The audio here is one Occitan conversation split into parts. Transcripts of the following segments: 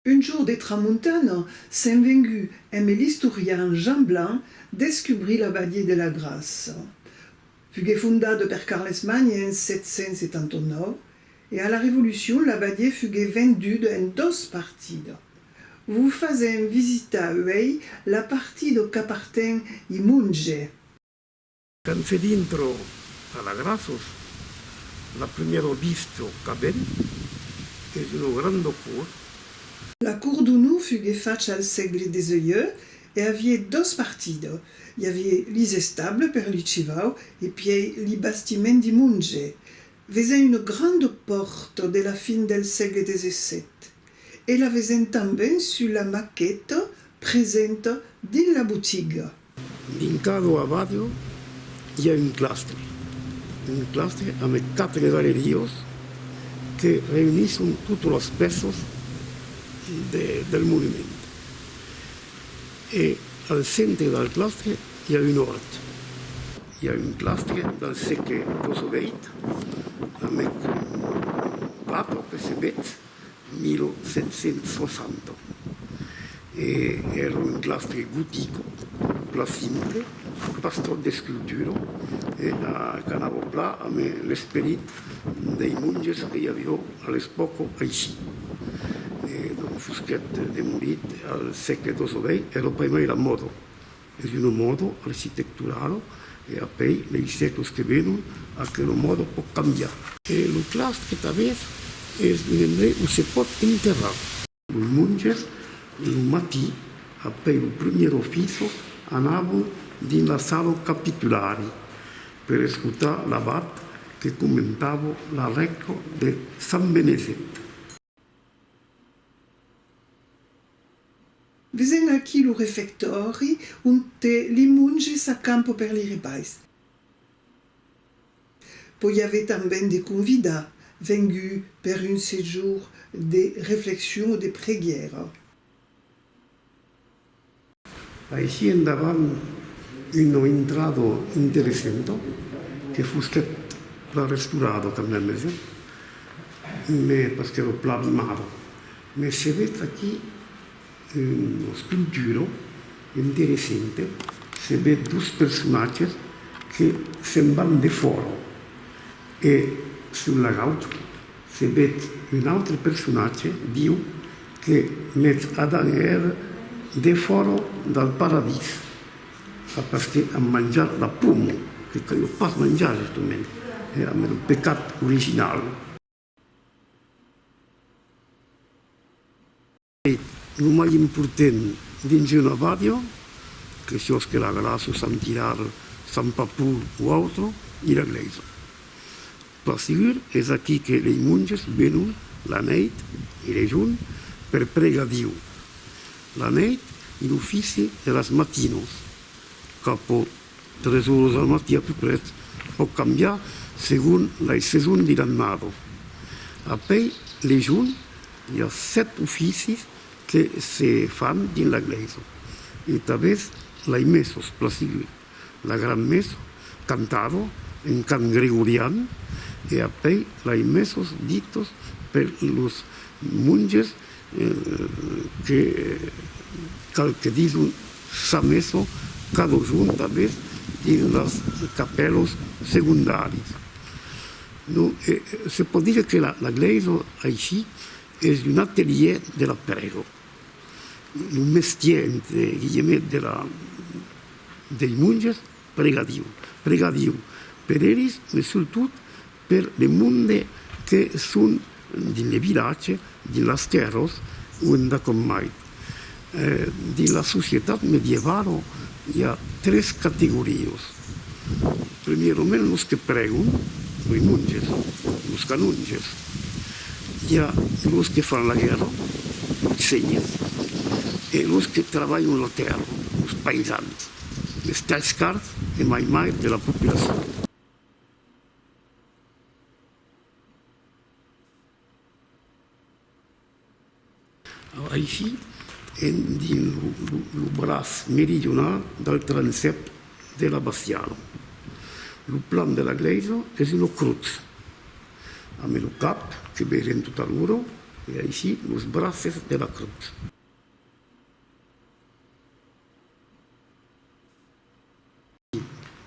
Un jour de tramontana, s'en vengut emb l'istorian Jean Blanc descubrir la Badier de la Graça. Fugué fondada per Carles Magne en 779 e a la Revolucion la badier fugué venduda en dos partida. Vos fasèm visitar uèi la partida qu'aparten i Monge. Quand se dintro a la Grasos, la primièro vista qu'avèm es una granda cour. La cour d'onor fugué facha al sègle xviii e avié dos partida, i avié lis estables per li chivau e pièi li bastiment di monge. Vesèn una granda pòrta de la fin del sègle xvii e la vesèn tanben sus la maqueta presenta dins la botiga. Dintra d'ua ràdio i a un clastre, un clastre amb quatre galeriós que reunisson totes las pèças del movement. E al centre del clastre i a un òrt. I a un clastre del sègle 18 amec un plató que se vètz 1760 e èra un claustre gotico plan simple, pas tròp d'escultura e a canava plan amb l'esperit dei monges que i avió a l'espòca aicí. E donc fusquèt demolit al sègle xix. Ei era primièira mòda. Es un mòdo architectural e apèi lei sècles que venon aquel mòdo pòt cambiar. E lo claustre que tanbèth es un endrei o se pòt enterrar. Los monges lo matí apèi lo primièr ofiço anavon dins la sala capitulari per escotar l'abat que comentava la rècla de Sant Benezet. Vesen aquí lo refectòri onte li monges s'acampo per li repais. Poi ave tanben de convidats venguts per un sejorn de reflexion o de preguièra. Aicí endavant una intrada interessenta que fusquèt plan restaurada quand meme jo, mais pas qu'èra plan abimada, mais se vèt aquí una sculptura interessenta, se vèt dos personatges que se'n van defòra e sul lagout Se vet un autre personatge viu que met Adan e Eva defòra del paradís a pas que a manjar la poma que caliá pas manjar justament era mès lo pecat original. E lo mai important dins una ràdio, que siós que la veràs o sentiràs Sant Papul o autre, i la glèisa. Per segur, es aquí que lei monges venon la nèit e lei jorn per pregar Diu. La nèit, i l'ofici de las matinas, qu'apo Tres oras al matí a peu pret. Pòc cambiar segon lei seson de l'annada. A pei Lejon i a sèt oficis que se fan dins la glèisa e tabes lei messas pla sigut, la gran messa cantada en cant gregorian e a pei lei messas ditas per los monges Que cal que dison sa meson cado junt avès dins las capèlos segondaris. Non e se pòt dire que la la glèisa aicí es un atelier de la prèga, un mestier entre guillemets de la dei monges, pregar Diu, pregar Diu per elis, mais surtout Per de monde que son dins le vilatge, dins las tèrras o endacòm mai. Dins la societat medievalo i a tres categorias. Premierament los que prègon, lei monges, los canonges. I a los que fan la guèrra, lei senhes, e los que travalhan la tèrra, los paisans, les talhscards e mai mai de la populacion. Aicí en dins lo braç meridional del transsèp de la bastiala. Lo plan de la glèisa es una crotz amb lo cap que vegem totalora e aicí los braces de la crotz.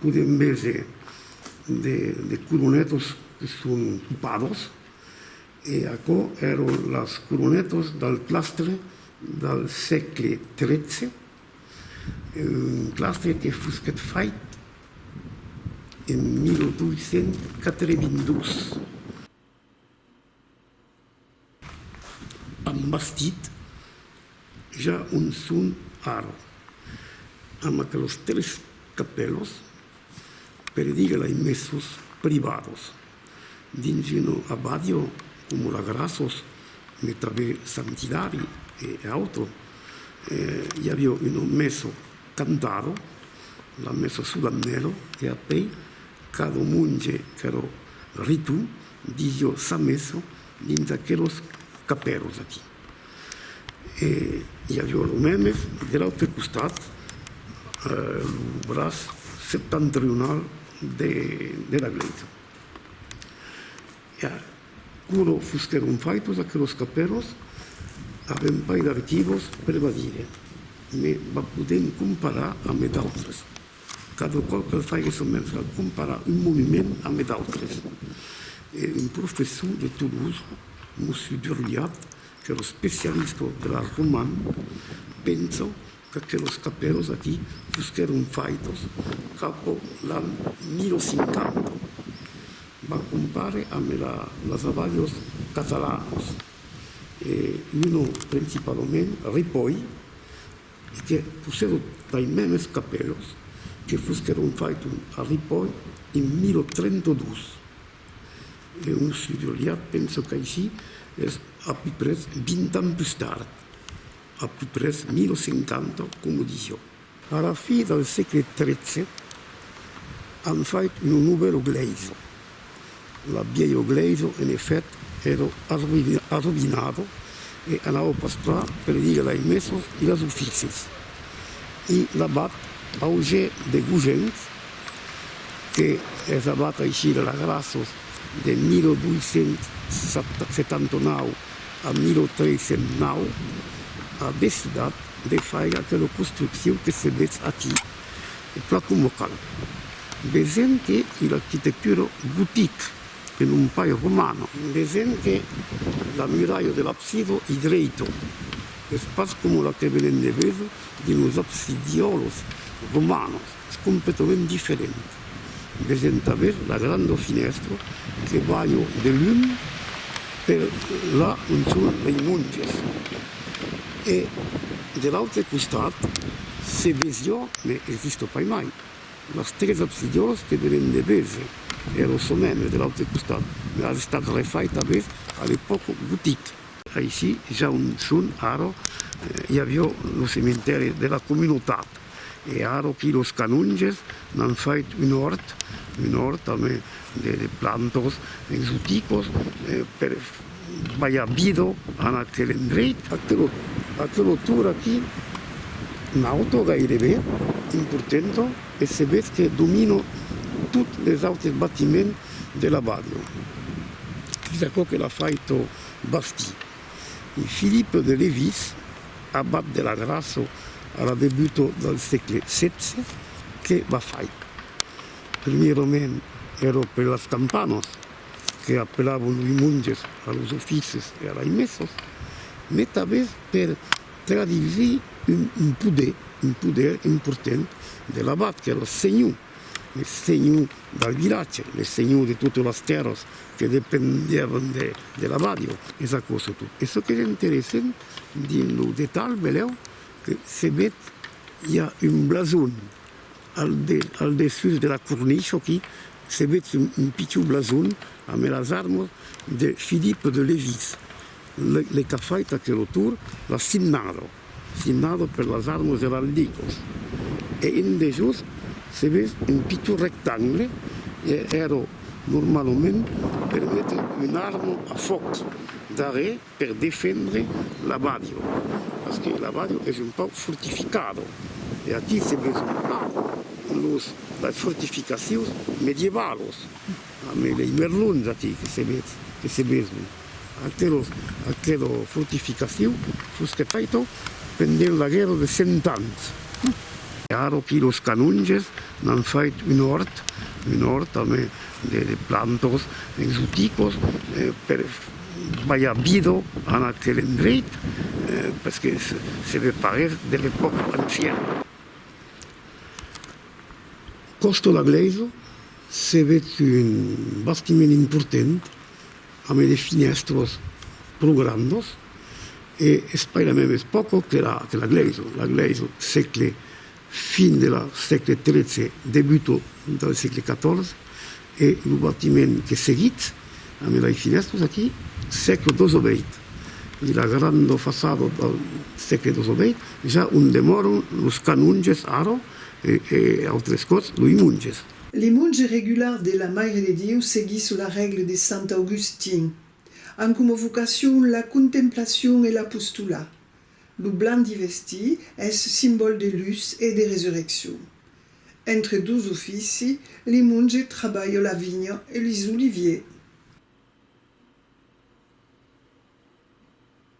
Podem veser de coronetos que son topados e aquò èron las coronetos del clastre del sègle XIII, un clastre que fosquèt fait en 1882. Am bastit ja un son ara, amb aquelos tres capèlos, per dire lei mesos privados, dins una abadio coma la Grassos, me tabè Santidari e auto, i aviò una meso, Cantaro, la messa solamnèlo e apèi cada monge qu'èro ritu disió sa messa dins aquelos capèros aquí. E i avió lo mèmes de l'autre costat, lo braç septentrional de la glèisa. E a quoro fusteron faitos aqueros caperos? Avem pas d'archivos per va dire, me va podem comparar ame d'autres. Cada còp que fague son mens a comparar un monument ame d'autres. E un professor de Toulouse, Mossu Durriat, qu'èra especialista de l'art roman, pensa Aquelos capèus aquí fusquèron faitos capò l'an 1050. Va compare amb era las abalhos catalanos e uno principalament Ripoll e que possèdo tai mèmes capèus que fusquèron faiton a Ripoll en 1032. E un sudoliat penso qu'aicí es a piprès 20 ans pus tard. A peu près 1050, coma disió. A la fi del sègle tretze an fait lo novèlo glèisa. La bièlho glèisa, en efèt, èra arroïnada e anava pas pla per dire lei messas e les oficis. I l'abat Auge de Gogens, que es abat aicí de la Grassos de 1279 En 1309, a decidat de faire aquela construccion que se vetz aquí, o plan coma cal. Vesèm que i l'arquitectura gotic e non pas romana. Vesèm que la miralha de l'absida i dreita, es pas coma la que venèm de véser dins los absidiòlos romanos. Es completament diferent des entaver la granda finèstra que balha de lum per la on son lei monges e de l'autre costat se vesia, me es vista pas mai, las tres absidiolas que venen de veser e lo somèmbre de l'autre costat me as estat refait aves a l'epòca gotic. Aicí, ja on son ara, i avia lo cementèri de la comunautat. E ara aquí los canonges m'an fait un òrt, un òrt a me de plantos exoticos per balhar bido an aquel endreit. Aquel autor aquí, un autor gairebe importanta e se ves que domina tot les autres batiments de la badio. Es aquò que l'ha faito bastir. e Philippe de Lévis, abat de la Grasso a la debuta del sègle xvi, que va faic. Primièrament èra per las campanas, que apelavan loi monges a los oficis e a lai messas, mai tanben per traduisir un poder, un poder important de l'abat, qu'èra senhor. Le senhor dal vilatge, le senhor de totes las tèrras que dependiavan de l'abadia. Es aquò sotot. E çò qu'es interessent dins lo detalh, velèu que se ved, i a un blason al dessús de la cornicha aquí, se ved un pichon blason amb las armas de Philippe de Lévis, le qu'a fait aquel autor, la signada. Signado per las armas eraldicos e en dejós se ves un pitot rectangle e ero normalament per metre una arma a fòc darrèr per defendre l'abbadio, parce que l'abbadio es un pauc fortificado e aquí se ves un plan los las fortificacions medievalos, mai mai merlons aquí que se ves que se veson. Aquela fortificacion fusque faita pendent la guèrra de cent ans. Ara que los canonges n'an fait un òrt, un òrt amb de plantas exoticas per balhar vida en aquel endreit, pes que se ve parer de l'epòca anciana. Còsta la glèisa se ve un bastiment important Amé de finèstros pro grandos e espai la mèmes pòco que la que la glèiso. La glèiso sègle fin de la sègle tretze debuto del sègle catòrze e lo batiment que seguit amé lai finèstros aquí sègle dosoveit e la grando façado del sègle dosoveit ja ont demòron los canonges ara e e autres còps loi monges. Le monge regular de la Maire de Dieu seguís la règle de sant Augustin. An coma vocacion la contemplacion e l'apostolat. Lo blanc d'i vestí es simbòl de lutz e de resurreccion. Entre dos ofici, le monge trabalha la vinha e les oliviers.